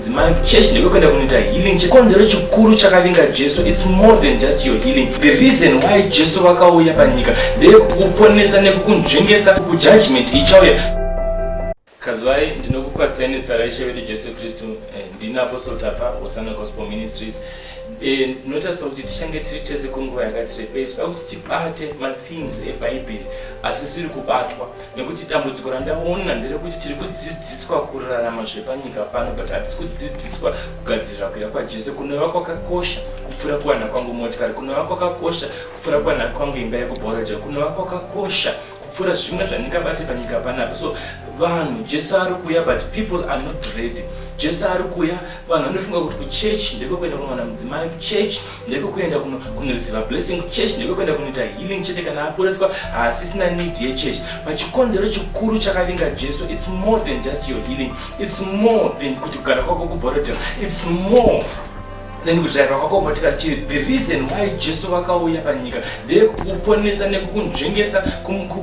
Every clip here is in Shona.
Dzimai church ndekekuenda kunoita healing chikonzero chikuru chakavinga Jesu it's more than just your healing the reason why Jesu vakauya panyika ndeyekukuponesa nekukunzvengesa kujudgment ichauya kazwai ndinokukwazisai nezita raishe vedu jesu kristu eh, ndini apostle tapa osana gospel ministries eh, ndinotarisira kuti tichange tiri tese kwenguva yakati rebei tinoda kuti tibate mathemes ebhaibheri asi siri kubatwa nekuti dambudziko randaona nderekuti tiri kudzidziswa kurarama zvepanyika pano but hatisi kudzidziswa kugadzirira kuya kwajesu kunova kwakakosha kupfuura kuwana kwangu motikari kunova kwakakosha kupfuura kuwana kwangu imba yekubhoraja kunova kwakakosha kupfuura zvimwe zvandingabate panyika panapo so vanhu jesu ari kuuya but people are not ready jesu ari kuuya vanhu vanofunga kuti kuchechi ndekwekuenda kunowana mudzimai kuchechi ndekukuenda kunoreceiva blessing kuchurch ndekukuenda kunoita healing chete kana aporeswa haasisina need yechurch pachikonzero chikuru chakavinga jesu its more than just your healing its more than kuti kugara kwako kuborotel its more then kudriva kwako motika chiri the reason why jesu vakauya panyika ndeyekukuponesa nekukunzvengesa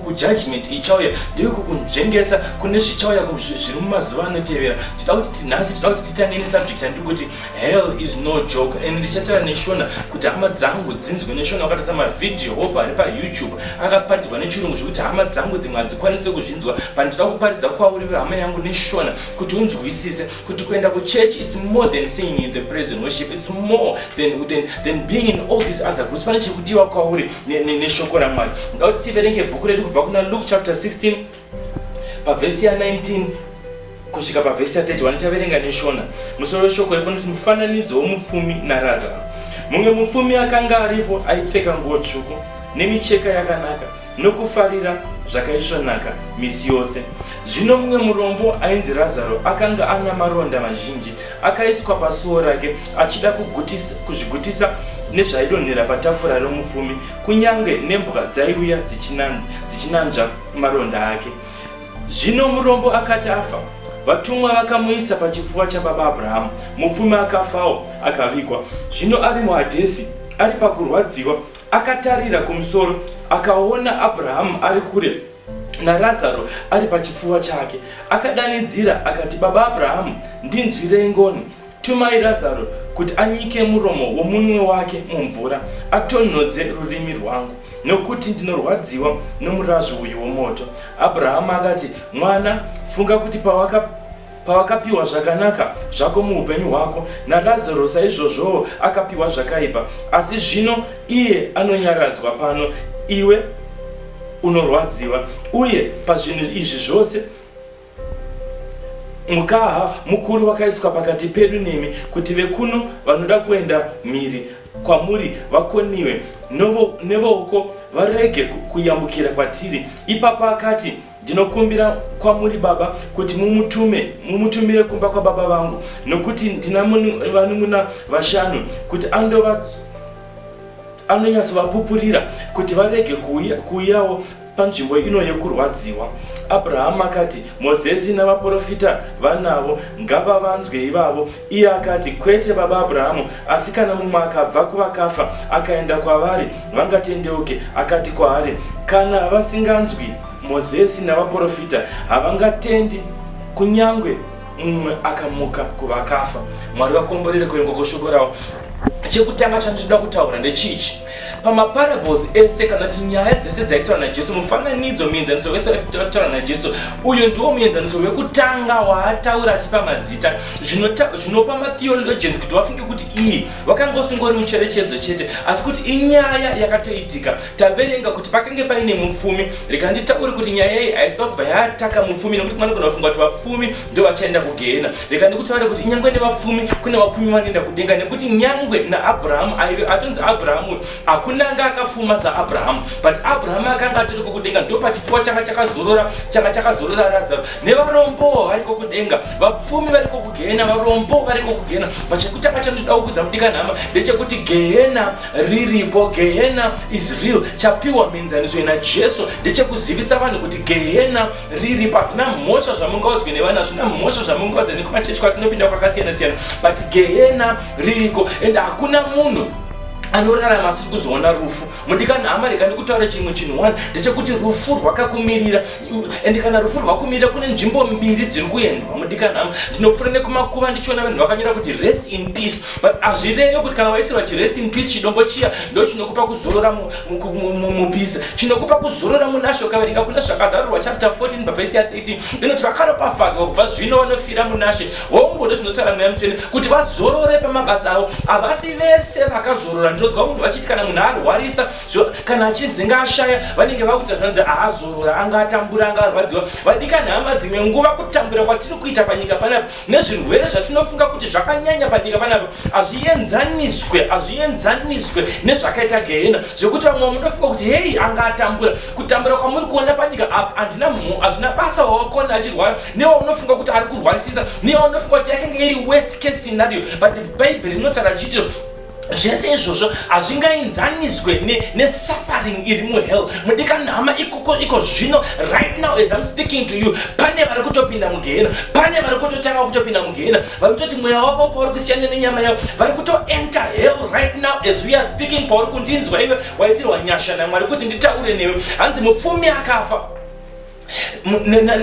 kujudgment ichauya ndeyekukunzvengesa kune zvichauya zviri mumazuva anotevera tida kuti tinhasi tida kuti titange nesubject yandiri kuti hell is no joke and ndichataura neshona kuti hama dzangu dzinzwe neshona wakatasa mavhidhiyo hope ari payoutube akaparidzwa nechirungu zvekuti hama dzangu dzimwe hadzikwanise kuzvinzwa pandida kuparidza kwauri vehama yangu neshona kuti unzwisise kuti kuenda kuchurch its more than singing in the present worship its more than, than, than being in all these other groups pane chiri kudiwa kwauri neshoko ramwari ngauti tiverenge bhuku redu kubva kuna luke chapter 16 pavhesi ya19 kusvika pavhesi ya31 ndichaverenga neshona musoro weshoko iko noti mufananidzo womupfumi narazaro mumwe mupfumi akanga aripo aipfeka nguo tsvuku nemicheka yakanaka nokufarira zvakaisvonaka misi yose zvino mumwe murombo ainzi razaro akanga ana maronda mazhinji akaiswa pasuo rake achida kuzvigutisa nezvaidonhera patafura romufumi kunyange nembwa dzaiuya dzichinanzva maronda ake. Zvino murombo akati afa, vatumwa vakamuisa pachipfuva chababa Abrahamu. Mupfumi akafawo, akavigwa. Zvino ari muHadhesi, ari pakurwadziwa, akatarira kumusoro, akaona Abrahamu ari kure naRazaro ari pachipfuva chake. Akadanidzira akati, Baba Abrahamu, ndinzwirei ngoni. Tumai Razaro kuti anyike muromo womunwe wake mumvura, atonhodze rurimi rwangu, nokuti ndinorwadziwa nomurazvi uyu womoto. Abrahama akati, Mwana, funga kuti pawaka pawakapiwa zvakanaka zvako muupenyu hwako, naRazaro saizvozvowo akapiwa zvakaipa, asi zvino iye anonyaradzwa pano, iwe unorwadziwa, uye pazvinhu izvi zvose mukaha mukuru wakaiswa pakati pedu nemi kuti vekuno vanoda kuenda mhiri kwamuri vakoniwe nevooko varege kuyambukira kwatiri ipapo akati ndinokumbira kwamuri baba kuti mumutume mumutumire kumba kwababa vangu nokuti ndina vanun'una vashanu kuti andova anonyatsovapupurira kuti varege kuuyawo Panzvimbo ino yekurwadziwa, Abrahama akati, Mozesi navaporofita vanavo, ngavavanzwe ivavo. Iye akati, Kwete, baba Abrahamu, asi kana mumwe akabva kuvakafa akaenda kwavari, vangatendeuke. Akati kwaari, Kana vasinganzwi Mozesi navaporofita, havangatendi kunyange mumwe akamuka kuvakafa mwari vakomborere kuengwa kwoshoko ravo chekutanga chandichida kutaura ndechichi pamaparables ese kana kuti nyaya dzese dzaitaura najesu mufananidzo muenzaniso wese wataura najesu uyu ndiwo muenzaniso wekutanga waataura achipa mazita zvinopa matheologians kuti vafunge kuti iyi wakanga usingori mucherechedzo chete asi kuti inyaya yakatoitika taverenga kuti pakange paine mupfumi rekanditaure kuti nyaya iyi haisi pakubva yataka mupfumi nekuti mwana kuna vafunga kuti vapfumi ndo vachaenda kugehena rekandikutaure kuti nyangwe nevapfumi kune vapfumi vanoenda kudenga nekuti nyangwe naabrahamu aive atonzi abrahamu hakuna anga akafuma saabrahamu but abrahamu akanga atori kokudenga ndo pachipfuwa changa chakazorora changa chakazorora razaro nevarombowo vari kokudenga vapfumi vari kokugehena varombo vari kokugehena but chekutanga chandoda kukudza mudikanhama ndechekuti gehena riripo gehena is real chapiwa mienzaniso ina jesu ndechekuzivisa vanhu kuti gehena riripo hazvina mhosva zvamungaudzwe nevanhu hazvina mhosva zvamungaudza nekumachechi kwatinopinda kwakasiyana siyana but gehena ririko and hakuna munhu anorarama asiri kuzoona rufu mudikani hama rega ndikutaura chimwe chinhu one ndechekuti rufu rwakakumirira ende kana rufu rwakumira kune nzvimbo mbiri dziri kuendwa mudikanhama ndinopfuura nekumakuva ndichiona vanhu vakanyora kuti rest in peace but hazvireve kuti kana waisirwa chirest in peace chidombo chiya ndo chinokupa kuzorora mupisa chinokupa kuzorora munasho kaverenga kuna zvakazarurwa chapter 14 pavhesi ya 13 inoti vakaropafadzwa kubva zvino vanofira munashe hongu ndo zvinotaura mweya mutsvene kuti vazorore pamabasa avo havasi vese vakazorora ndinonzwa munhu vachiti kana munhu arwarisa so kana achinzi ngaashaya vanenge vakuita zvanzi aazorora anga atambura anga arwadziwa vadikani hama dzimwe nguva kutambura kwatiri kuita panyika panapa nezvirwere zvatinofunga kuti zvakanyanya panyika panapa hazvienzaniswe hazvienzaniswe nezvakaita gehena zvekuti vamwe munofunga kuti hei anga atambura kutambura kwamuri kuona panyika apa handina mhu hazvina basa wawakona achirwara newaunofunga kuti ari kurwarisisa newaunofunga kuti yakenge iri west case scenario but bhaibheri rinotaura chitiro zvese izvozvo hazvingainzaniswe nesuffering iri muhell mudikani hama ikoko iko zvino right now as im speaking to you pane vari kutopinda mugehena pane vari kutotanga kutopinda mugehena vari kutoti mweya wavo pauri kusiyana nenyama yavo vari kutoenter hell right now as we are speaking pauri kundinzwa ive waitirwa nyasha namwari kuti nditaure newe hanzi mupfumi akafa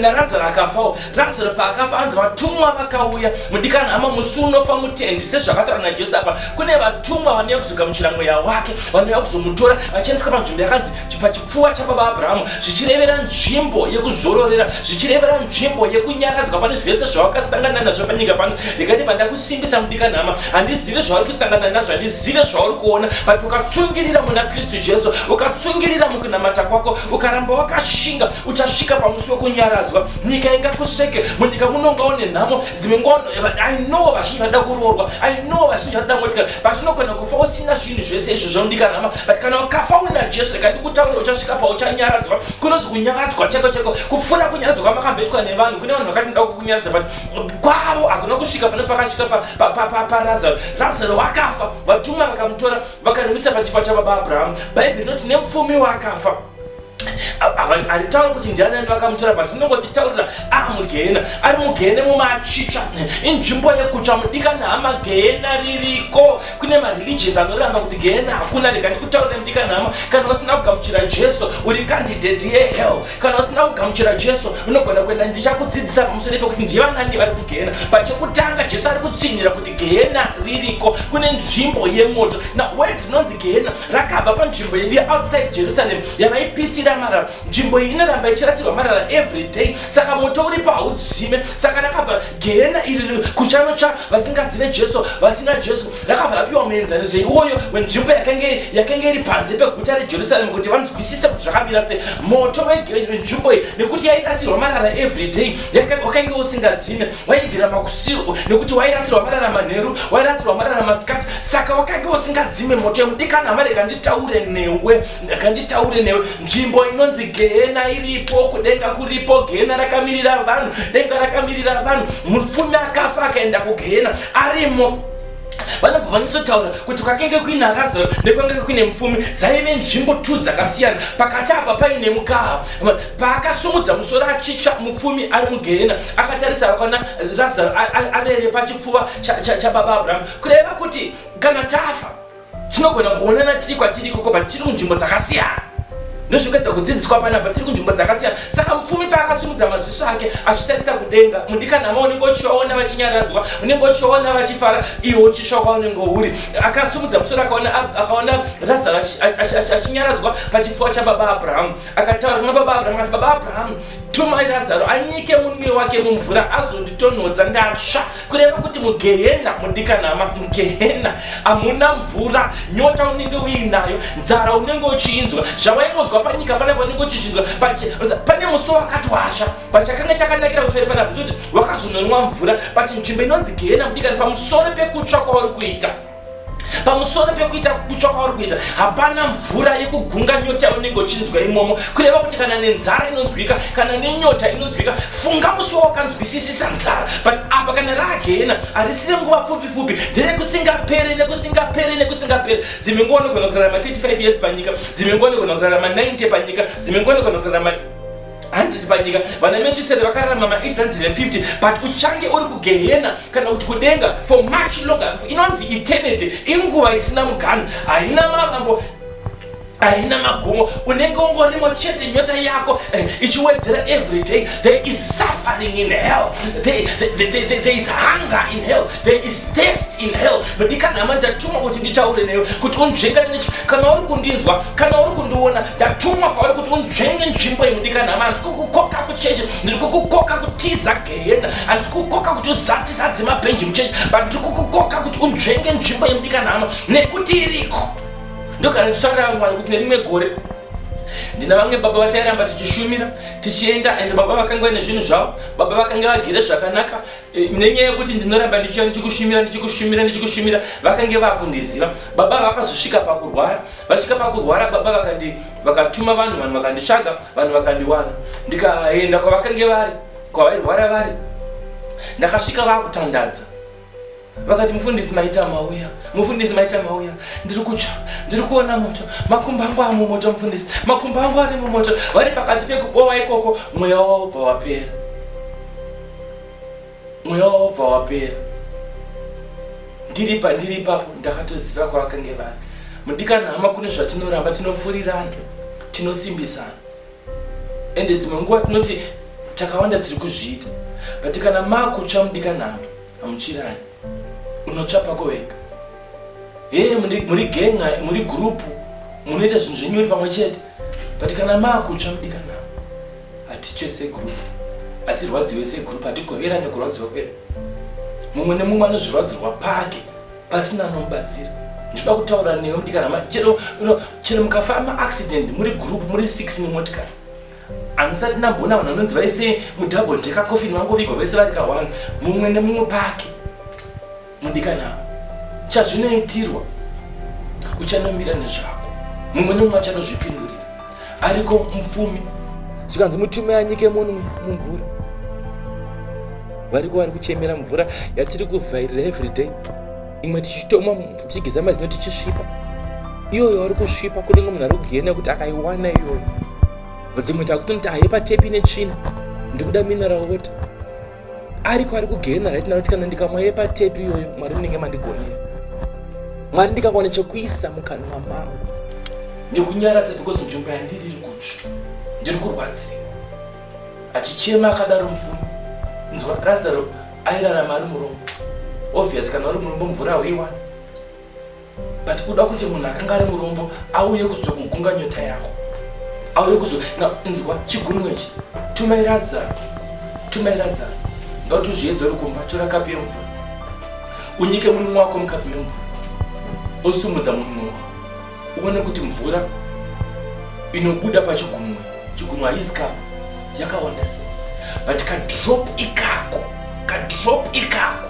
narazaro akafawo razaro paakafa anzi vatumwa vakauya mudikana hama musi unofa mutendi sezvakataura najesu apa kune vatumwa vanouya kuzoka muchira mweya wake vanouya kuzomutora vachiendeswa panzvimbo yakanzi pachipfuwa chababa abrahamu zvichirevera nzvimbo yekuzororera zvichirevera nzvimbo yekunyaradzwa pane zvese zvawakasangana nazvo panyika pano ndikati pandakusimbisa mudikana hama handizive zvauri kusangana nazvo handizive zvauri kuona but ukatsungirira muna kristu jesu ukatsungirira kunamata kwako ukaramba wakashinga uchasvika pamusi wekunyaradzwa nyika ingakuseke munyika muno ungaone nhamo dzimwe nguva i know vazhinji vada kuroorwa i know vazhinji vada motikana but unogona kufa usina zvinhu zvese izvo zvaundikanhama but kana ukafa una jesu reka ndikutaurira uchasvika pauchanyaradzwa kunonzi kunyaradzwa cheko cheko kupfuura kunyaradzwa kwamakambetwa nevanhu kune vanhu vakati nda kukunyaradza but kwavo hakuna kusvika pane pakasvika parazaro razaro wakafa vatumwa vakamutora vakarimisa pachifa chababa abrahamu bhaibheri rinoti nemupfumi waakafa handitauri kuti ndiani ani vakamutora but ndinongotitaurira ari mugehena ari mugehena mumachicha inzvimbo yekutsva mudikana hama gehena ririko kune mareligions anoramba kuti gehena hakuna rega ndikutaurira mudikana hama kana usina kugamuchira jesu uri kandidhedhi yehell kana usina kugamuchira jesu unogona kuenda ndichakudzidzisa pamusoro pekuti ndivanani vari kugehena but chekutanga jesu ari kutsinhira kuti gehena ririko kune nzvimbo yemoto na word rinonzi gehena rakabva panzvimbo iri outside jerusalem yavaipisira marara nzvimbo iyi inoramba ichirasirwa marara every day saka moto uripo haudzime saka rakabva gehena iri kuchanotsva vasingazive jesu vasina jesu rakabva rapiwa muenzaniso iwoyo wenzvimbo yakange iri panze peguta rejerusalem kuti vanzwisise kuti zvakamira se moto wenzvimbo iyi nekuti yairasirwa marara every day wakange usingadzime waibvira makusiro nekuti wairasirwa marara manheru wairasirwa marara masikati saka wakange usingadzime moto yemudikana hamare kanditaure newe kanditaure newe nzvimbo inonzi gehena iripo kudenga kuripo gehena rakamirira vanhu denga rakamirira vanhu mupfumi akafa akaenda kugehena arimo vanobva vanyisotaura kuti kwakenge kuina razaro nekwakenge kuine mupfumi dzaive nzvimbo two dzakasiyana pakati apa paine mukaha paakasumudza musoro achicha mupfumi ari mugehena akatarisa vakaona razaro arere pachipfuva chababa abrahamu kureva kuti kana tafa tinogona kuonana tiri kwatiri ikoko but tiri kunzvimbo dzakasiyana ndozvikuedza kudzidziswa panapa tiri kunzvimbo dzakasiyana saka mupfumi paakasumudza maziso ake achitarisa kudenga mudikanhama unenge uchivaona vachinyaradzwa unenge uchivaona vachifara iwo uchitsva kwaunenge uri akasumudza musoro akaona razaro achinyaradzwa pachipfuwa chababa abrahamu akataura kuna baba abrahamu ati baba abrahamu tumai razaro anyike munwe wake mumvura azonditonhodza ndatsva kureva kuti mugehena mudikanama mugehena hamuna mvura nyota unenge uinayo nzara unenge uchiinzwa zvavaingonzwa panyika pana vanenge uchichinzwa pane musi wakati watsva but chakanga chakanakira kutsvairi pana kuti wakazononwa mvura but nzvimbo inonzi gehena mudikani pamusoro pekutsva kwauri kuita pamusoro pekuita kutsva kwauri kuita hapana mvura yekugunga nyota yaunenge uchinzwa imomo kureva kuti kana nenzara inonzwika kana nenyota inonzwika funga musi wawakanzwisisisa nzara but apa kana raagena harisire nguva pfupi pfupi nderekusingapere nekusingapere nekusingapere dzimwe nguva unogona kurarama 35 years panyika dzimwe nguva unogona kurarama 90 panyika dzimwe nguva unogona kurarama handiti panyika vana mechisere vakararama maaids handire 50 but uchange uri kugehena kana kuti kudenga for much longer inonzi eternity inguva isina muganhu haina mavambo haina magumo unenge ungorimo chete nyota yako eh, ichiwedzera every day there is suffering in hell there, there, there, there is hunger in hell There is taste in hell. Mudikani hama ndatumwa kuti nditaure newe kuti unzvengane nechi kana uri kundinzwa kana uri kundiona ndatumwa kwauri kuti unzvenge nzvimbo iyi mudikani hama handisi kukukoka kuchechi ndiri kukukoka kutiza gehena handisi kukukoka kuti uzatisa dzemabhenji muchechi but ndiri kukukoka kuti unzvenge nzvimbo iyi mudikani hama nekuti iriko ndokana ndichitaurira vamwari kuti nerimwe gore ndina vamwe baba vatairamba tichishumira tichienda and baba vakanga vane zvinhu zvavo baba vakanga vagere zvakanaka Eh, nenyaya yekuti ndinoramba ndichiya ndichikushumira ndichikushumira ndichikushumira vakange vakundiziva baba vakazosvika pakurwara vasvika pakurwara baba vakandi vakatuma vanhu vanhu vakanditsvaga vanhu vakandiwana ndikaenda kwavakange vari kwavairwara vari ndakasvika vakutandadza vakati mufundisi maita mauya mufundisi maita mauya ndiri kutsva ndiri kuona moto makumbo angu ari mumoto mufundisi makumbo angu ari mumoto vari pakati pekubowa ikoko mweya wavo bva wapera mweya wobva wapera ndiri pandiri ipapo ndakatoziva kwavakange vari mudikana hama kune zvatinoramba tinofurirana tinosimbisana ende dzimwe nguva tinoti takawanda tiri kuzviita but kana makutsva mudikana hama hamuchirani unotsva pako wega hee muri genga muri gurupu munoita zvinhu zvenyu uri pamwe chete but kana makutsva mudikana hatitye segroup hatirwadziwe segroup hatigoverane kurwadziwa kwedu mumwe nemumwe anozvirwadzirwa pake pasina anomubatsira ndinoda kutaura newe mudikanama chero chero mukafa maaccident muri group muri six mumotikari handisati ndamboona vanhu vanonzi vaise mudouble deka coffin vangovigwa vese vari ka one mumwe nemumwe pake mudikana chazvinoitirwa uchanomira nezvako mumwe nomumwe achanozvipindurira ariko mupfumi zvikanzi mutume anyike munhu mumvura variko vari kuchemera mvura yatiri kuvhairira everyday imwe tichitoma tichigeza mazino tichisvipa iyoyo wari kusvipa kunenge munhu ari kugena nekuti akaiwana iyoyo dzimwe takutonoti ahepa tepi netsvina ndikuda mineral water ariko ari kugehena right now kuti kana ndikamwaire patepi iyoyo mwari munenge mandigonera mwari ndikakwana chekuisa mukanwa mangu nekunyaradza because nzvimbo yandiri iri kutsva ndiri kurwadziwa achichema akadaro mufuni nzwa razaro airarama ari murombo obvious kana uri murombo mvura hauiwani but kuda kuti munhu akanga ari murombo auye kuzokugunga nyota yako auye kuzo inzwa chigunwe ichi tumai razaro tumai razaro ngauti uzviedza uri kumba tora kapi yemvura unyike munhu wako mukapi memvura osumudza munhu wako uone kuti mvura inobuda pachigunwe chigunwe haisi kapo yakawanda se but kadrop ikako kadrop ikako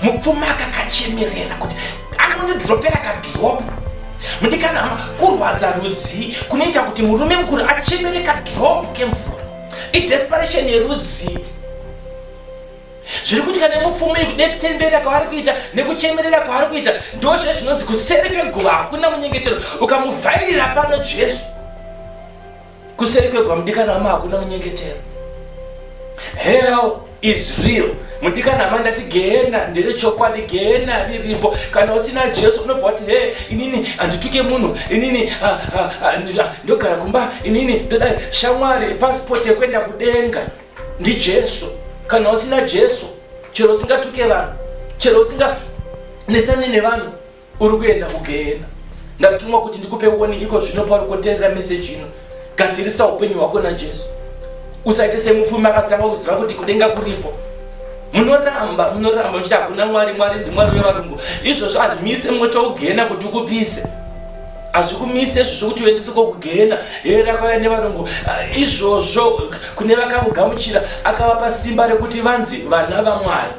mupfuma akakachemerera kuti anonidropera kadrop mudikana hama kurwadza rudzii kunoita kuti murume mukuru achemere kadrop kemvura idesperation yerudzii zviri kuitika nemupfumi nekutembera kwaari kuita nekuchemerera kwaari kuita ndozve zvinonzi kuseri kweguva hakuna munyengetero ukamuvhairira pano jesu kuseri kwegwa mudikana wama hakuna munyengetero hell is real mudikana hama ndati gehena ndere chokwadi gehena riripo kana usina jesu unobva wati he inini handituke munhu inini ah, ah, ah, ndogara kumba inini ndodai shamwari pasipoti yekuenda kudenga ndijesu kana usina jesu chero usingatuke vanhu chero usinga nesane nevanhu uri kuenda kugehena ndatumwa kuti ndikupe warning iko zvino pauri kuteerera meseji ino gadzirisa upenyu hwako najesu usaite semupfumi akasitanga kuziva kuti kudenga kuripo munoramba munoramba muchiti hakuna mwari mwari ndimwari wevarungu izvozvo hazvimise moto wokugehena kuti ukupise hazvikumise izvo zvokuti uendese kokugena here rakauya nevarungu ah, izvozvo kune vakamugamuchira akavapa simba rekuti vanzi vana vamwari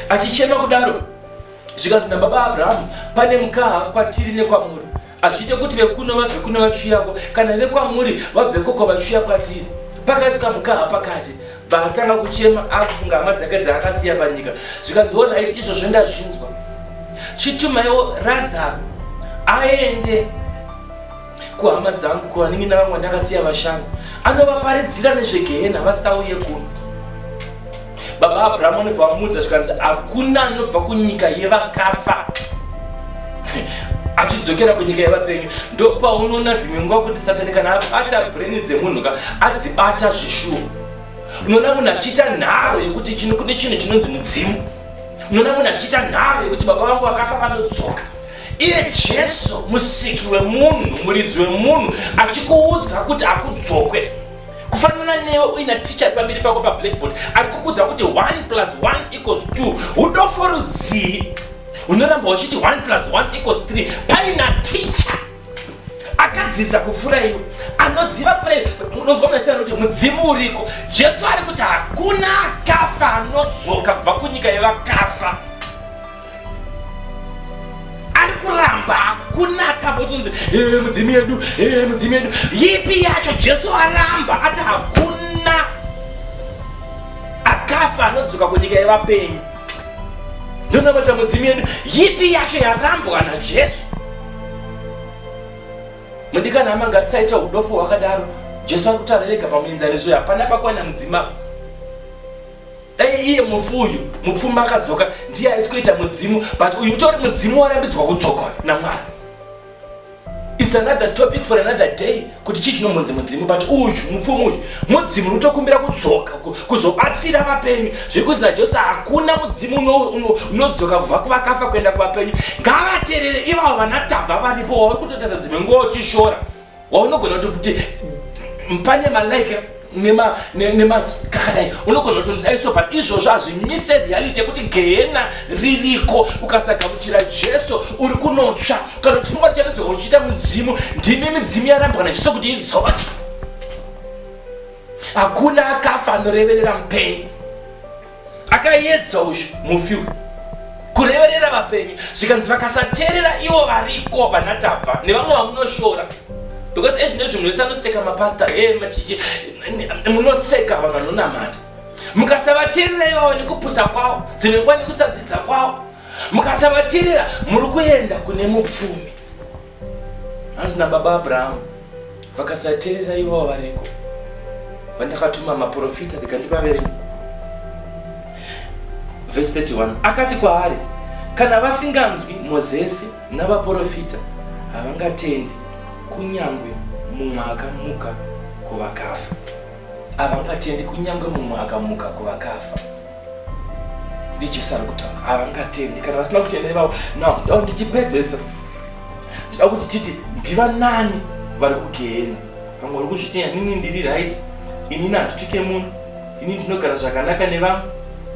achichema kudaro zvikanzi nababa abrahamu pane mukaha kwatiri nekwamuri hazviite kuti vekuno vabve kuno vachiuyako kana vekwamuri vabve koko vachiuya kwatiri pakaiswa mukaha pakati bvaatanga kuchema akufunga hama dzake dzaakasiya panyika zvikanzi orit izvozvo ndazvinzwa chitumaiwo razaro aende kuhama dzangu kuvanenge navamwe ndakasiya vashanu anovaparidzira nezvegehena vasauye kuno baba abrahamu anobva vamuudza zvikanzi hakuna anobva kunyika yevakafa achidzokera kunyika yevapenyu ndopaunoona dzimwe nguva kuti satani kana abata breni dzemunhu ka adzibata zvishuwo unoona munhu achiita nharo yekuti chino kune chinhu chinonzi mudzimu unoona munhu achiita nharo yekuti baba vangu vakafa vanodzoka iye jesu musiki wemunhu muridzi wemunhu achikuudza kuti akudzokwe kufanana newe uina ticha pamberi pako pablackboard ari kukuudza kuti 1 plus 1 equals 2 udofo rudzii unoramba uchiti 1 plus 1 equals 3 paina ticha akadzidza kupfuura iwe anoziva pfuura unonzwa muna chitara kuti mudzimu uriko jesu ari kuti hakuna akafa anodzoka kubva kunyika yevakafa ari kuramba kunaka votonzi ee mudzimu yedu ee mudzimu yedu yipi yacho jesu aramba ati hakuna akafa anodzoka kunyika yevapenyu ndonamata mudzimu yedu yipi yacho yarambwa najesu mudikana hama ngatisaita udofo hwakadaro jesu ari kutarirega pamuenzaniso uyo hapana pakwana mudzimaba dai iye mufu uyu mupfumi akadzoka ndiye aisi kuita mudzimu but uyu utori mudzimu warambidzwa kudzoka namwari its another topic for another day kuti chii chinombonzi mudzimu but uyu mupfumi uyu mudzimu unotokumbira kudzoka kuzobatsira vapenyu zvekuti najesu hakuna mudzimu unodzoka kubva kuvakafa kuenda kuvapenyu ngavaterere ivavo vanatabva varipo wauri kutotadza dzimwe nguva uchishora waunogona kuti kuti pane malike nemakakadai unogona kuti ndidai so but izvozvo hazvimise reality yekuti gehena ririko ukasagamuchira jesu uri kunotsva kana kufunga kuti chanodzoka uchiita mudzimu ndimi midzimu yarambwa najesu kuti idzoke hakuna akafa anoreverera mupenyu akayedza uyu mufi uyu kureverera vapenyu zvikanzi vakasateerera ivo variko vanatava nevamwe vamunoshora because ezvi nezvi munhu wese anoseka mapasta e eh, machichi munoseka vanhu vanonamata mukasavateerera ivavo nekupusa kwavo dzimwe nguva nekusadzidza kwavo mukasavateerera muri kuenda kune mupfumi hanzi nababa abrahamu vakasateerera ivo vareko vandakatuma maprofita ndikandivaverenga vhesi 31 akati kwaari kana vasinganzwi mozesi navaprofita havangatendi kunyange mumwe akamuka kuvakafa havangatendi kunyange mumwe akamuka kuvakafa ndijesu ari kutaura havangatendi kana vasina kutenda ivavo now ndava ndichipedzesa tida kuti titi ndivanani vari kugehena vamwe vari kuzvitenda nini ndiri right inini handituke munhu ini ndinogara zvakanaka nevamwe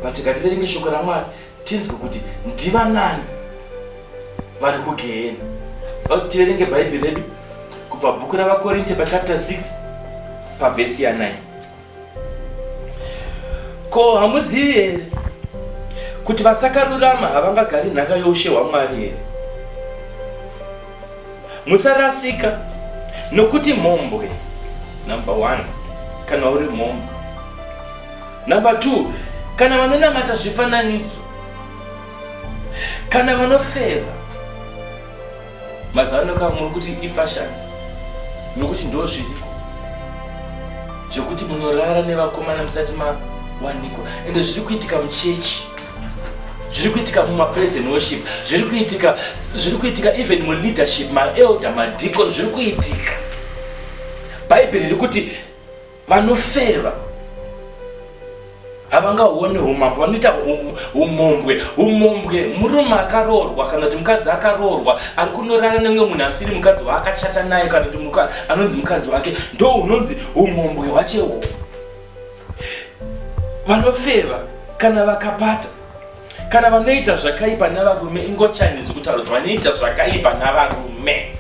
but ngativerenge shoko ramwari tinzwe kuti ndivanani vari kugehena vakuti tiverenge bhaibheri redu kubva bhuku ravakorinte pachapter 6 pavhesi ya 9 ko hamuzivi here kuti vasakarurama havangagari nhaka youshe hwamwari here musarasika nokuti mhombwe number one kana uri mhombwe number two kana vanonamata zvifananidzo kana vanofeva mazano ka muri kuti ifashion nokuti ndo zviriko zvekuti munorara nevakomana musati mawanikwa ende zviri kuitika muchechi zviri kuitika mumapresent worship zviri kuitika zviri kuitika even muleadership maelder madicon zviri kuitika bhaibheri riri kuti vanofeva havangaone umambo vanoita umombwe umombwe murume akaroorwa kana kuti mukadzi akaroorwa ari kunorara nemwe munhu asiri mukadzi waakachata naye kana kuti anonzi mukadzi wake ndo unonzi umombwe hwachewo vanofeva kana vakapata kana vanoita zvakaipa navarume ingochani dzokutarudzwa vanoita zvakaipa navarume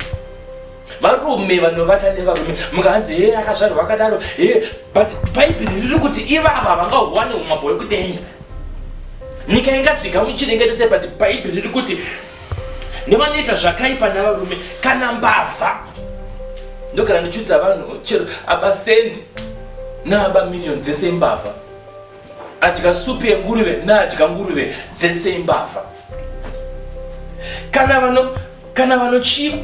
varume vanovata nevarume mukahanzi he akazvarwa akadaro he but bhaibheri riri kuti ivava vangahuwane umambo hwekudenga nyika ingasvika muchinengetese but bhaibheri riri kuti nevanoita zvakaipa navarume kana mbavha ndogara ndichiudza vanhu chero abasendi naabamirioni dzese mbavha adya supu yenguruve naadya nguruve dzese imbavha kana vano kana vanochiva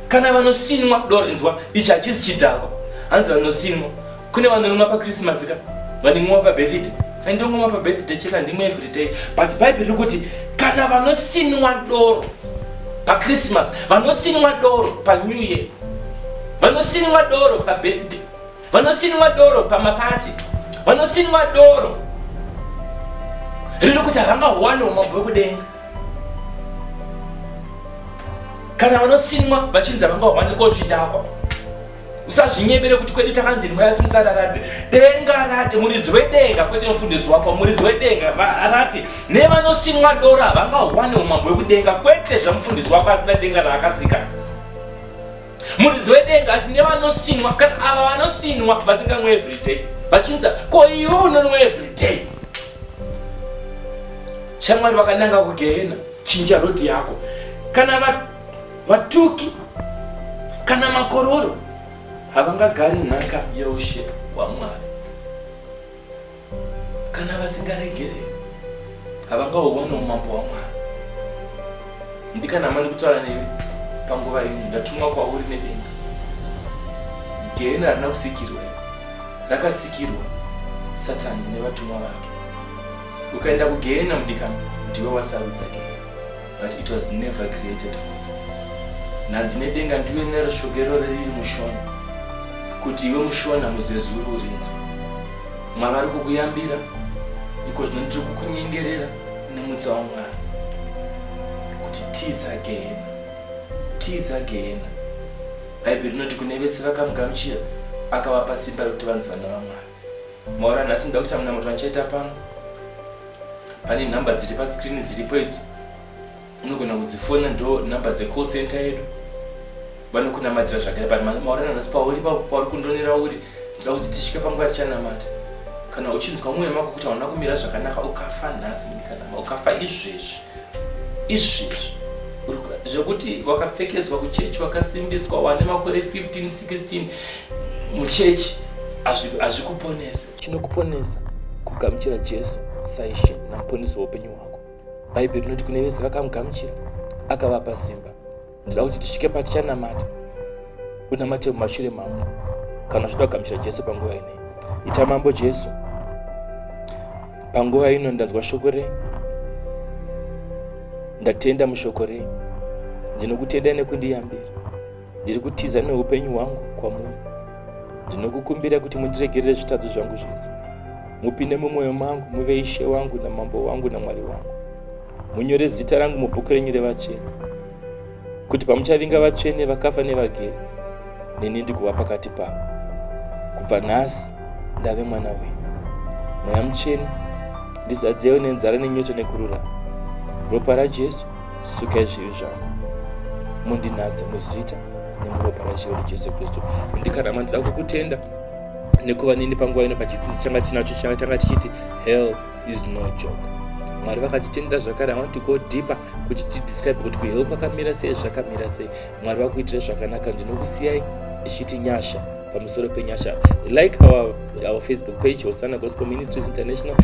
kana vanosinwa doro inzwa ichi hachisi chidhakwa hanzi vanosinwa kune vanorimwa pakrisimasi ka vanimwa pabirthday andongomwa pabirthday chete handimwe everyday but bhaibheri riri kuti kana vanosinwa doro pakrisimasi vanosinwa doro panew year vanosinwa doro pabirthday vanosinwa doro pamapati vanosinwa doro riri kuti havangawane umambo wekudenga kana vanosinwa vachinzi havangawane kozvidhakwa usazvinyebere kuti kwedu takanzi ndimwe asi musararadze denga rati muridzi wedenga kwete mufundisi wako muridzi wedenga rati nevanosinwa doro havangawane umambo wekudenga kwete zvamufundisi wako asina denga raakasika Muridzi wedenga ati nevanosinwa kana ava vanosinwa vasinganwe everyday vachinza ko iwe unonwa everyday shamwari vakananga kugehena chinja rhodhi yako kana vatuki kana makororo havangagari nhaka yeushe hwamwari kana vasingaregereri havangahuwane umambo hwamwari ndikanama ndikutaura newe panguva ino ndatumwa kwauri nedenga gehena harina kusikirwa rakasikirwa satani nevatumwa vake ukaenda kugehena mudikano ndiwe wasarudza gehena but it was never created for nhanzi nedenga ndiwe nerishogero riri mushona kuti iwe mushona muzezuru urinzwa mwari ari kukuyambira iko zvino ndiri kukunyengerera nemutsa wamwari kuti tiza gehena tiza gehena bhaibheri rinoti kune vese vakamugamuchira akavapa simba rekuti vanzi vana vamwari maura nhasi ndoda kuita munamato andichaita pano pane nhamba dziri paskrini dziripo idzo unogona kudzifona ndo nhamba dzecall center yedu vanokunamadzira zvakare but maurana nhasi pauri pauri kundonera uri ndoda kuti tisvike panguva tichanamata kana uchinzwa mwoyo mako kuti hauna kumira zvakanaka ukafa nhasi ndikanama ukafa izvezvi izvezvi zvekuti wakapfekedzwa kuchechi wakasimbiswa wane makore 15 16 muchechi hazvikuponese chinokuponesa kugamuchira jesu saishe namuponesi weupenyu hwako bhaibheri rinoti kune vese vakamugamuchira akavapa simba ndida kuti tisvike patichanamata unamate mumashure mambo kana zvida kugamuchira jesu panguva ine ita mambo jesu panguva ino ndanzwa shoko rei ndatenda mushoko rei ndinokutenda nekundiyambira ndiri kutiza neupenyu hwangu kwamuri ndinokukumbira kuti mundiregerere zvitadzo zvangu zvese mupinde mumwoyo mangu muve ishe wangu namambo wangu namwari wangu munyore zita rangu mubhuku renyu revatsvene kuti pamuchavinga vatsvene vakafa nevagere neni ndikuva pakati pavo kubva nhasi ndave mwana wenyu mweya mutsvene ndizadzeyo nenzara nenyota nekururama ropa rajesu sukai zvivi zvangu mundinatsa muzita nemuropa raishe wedu jesu kristu ndikarama ndida kukutenda nekuva nini panguva ino pachidzidzo changa tinacho changa tanga tichiti hell is no joke mwari vakatitendera zvakare i want to go deeper kuti tidescribe kuti kuheu kwakamira sei zvakamira sei mwari vakuitira zvakanaka ndinokusiyai ndichiti nyasha pamusoro penyasha like our, our facebook page hosana gospel ministries international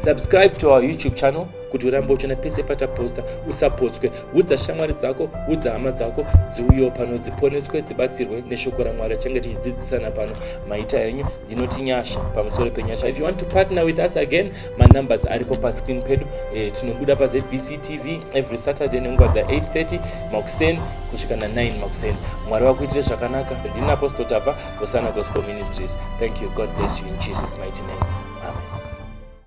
subscribe to our youtube channel kuti urambe uchiona pese pataposta usapotswe udza shamwari dzako udza hama dzako dziuyewo pano dziponeswe dzibatsirwe neshoko ramwari achange tichidzidzisana pano maita enyu inoti nyasha pamusoro penyasha if you want to partner with us again manumbers aripo pascreen pedu e, tinobuda pazbc tv every saturday nenguva dza 830 makuseni kusvika na9 makuseni mwari vakuitire zvakanaka ndini apostle tava hosana gospel ministries thank you god bless you in jesus mighty name